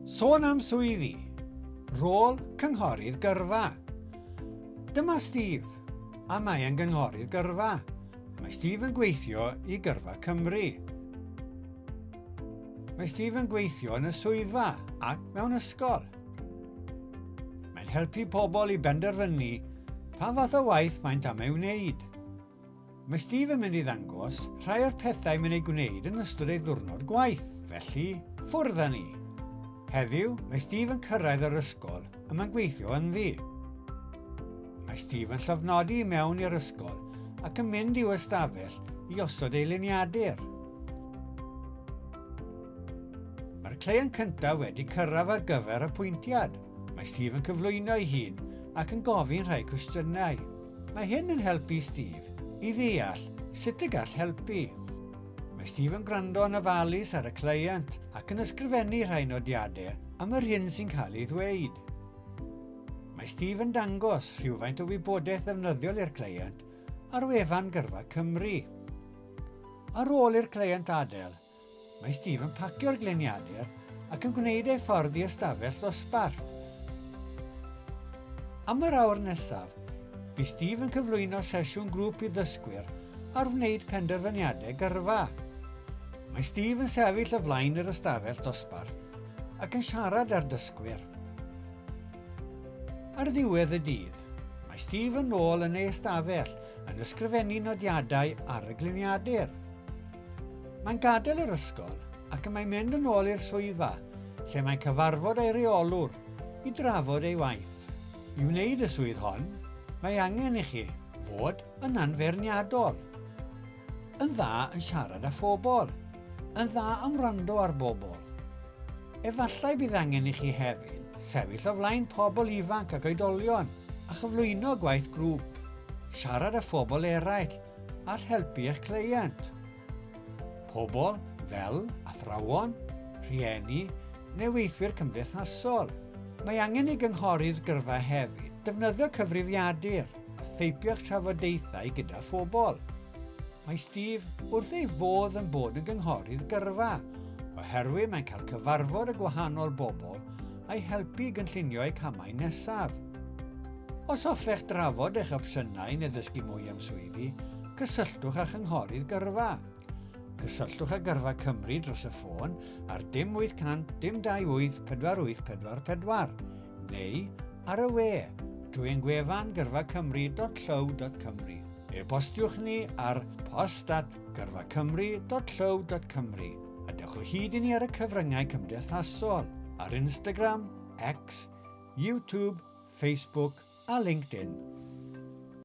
Sôn am swyddi, rôl cynghorydd gyrfa. Dyma Steve, a mae e'n gynghorydd gyrfa. Mae Steve yn gweithio i Gyrfa Cymru. Mae Steve yn gweithio yn y swyddfa ac mewn ysgol. Mae'n helpu pobl i benderfynu pa fath o waith maent am ei wneud. Mae Steve yn mynd i ddangos rhai o'r pethau mae'n eu gwneud yn ystod ei ddiwrnod gwaith, felly, ffwrdd â ni! Heddiw, mae Steve yn cyrraedd yr ysgol y mae'n gweithio ynddi. Mae Steve yn llofnodi i mewn i'r ysgol ac yn mynd i'w ystafell i osod ei liniadur. Mae'r cleient cyntaf wedi cyrraedd ar gyfer apwyntiad. Mae Steve yn cyflwyno'i hun ac yn gofyn rhai cwestiynau. Mae hyn yn helpu i Steve i ddeall sut y gall helpu. Mae Steve yn gwrando yn ofalus ar y cleient ac yn ysgrifennu rhai nodiadau am yr hyn sy'n cael ei ddweud. Mae Steve yn dangos rhywfaint o wybodaeth ddefnyddiol i'r cleient ar wefan Gyrfa Cymru. Ar ôl i'r cleient adael, Mae Steve yn pacio'r gliniadur ac yn gwneud ei ffordd i ystafell ddosbarth. Am yr awr nesaf, bu Steve yn cyflwyno sesiwn grŵp i ddysgwyr ar wneud penderfyniadau gyrfa. Mae Steve yn sefyll o flaen yr ystafell dosbarth ac yn siarad â'r dysgwyr. Ar ddiwedd y dydd, mae Steve yn ôl yn ei ystafell yn ysgrifennu nodiadau ar y gliniadur. Mae'n gadael yr ysgol ac y mae'n mynd yn ôl i'r swyddfa, lle mae'n cyfarfod ei reolwr i drafod ei waith. I wneud y swydd hon, mae angen i chi fod yn anfeirniadol, yn dda yn siarad â phobl, yn dda am wrando ar bobl. Efallai bydd angen i chi hefyd sefyll o flaen pobl ifanc ac oedolion a chyflwyno gwaith grŵp, siarad â phobl eraill all helpu eich cleient. Pobl fel athrawon, rhieni neu weithwyr cymdeithasol. Mae angen i gynghorydd gyrfa hefyd defnyddio cyfrifiadur a theipio'ch trafodaethau gyda phobl. Mae Steve wrth ei fodd yn bod yn gynghorydd gyrfa oherwydd mae'n cael cyfarfod â gwahanol bobl a'i helpu i gynllunio eu camau nesaf. Os hoffech drafod eich opsiynau neu ddysgu mwy am swyddi, cysylltwch â Chynghorydd Gyrfa. Cysylltwch â Gyrfa Cymru dros y ffôn ar dim 800 dim 28 4844 neu ar y we drwy ein gwefan gyrfacymru.llyw.cymru. E-bostiwch ni ar post at gyrfacymru.llyw.cymru a dewch o hyd i ni ar y cyfryngau cymdeithasol, ar Instagram, X YouTube, Facebook a LinkedIn.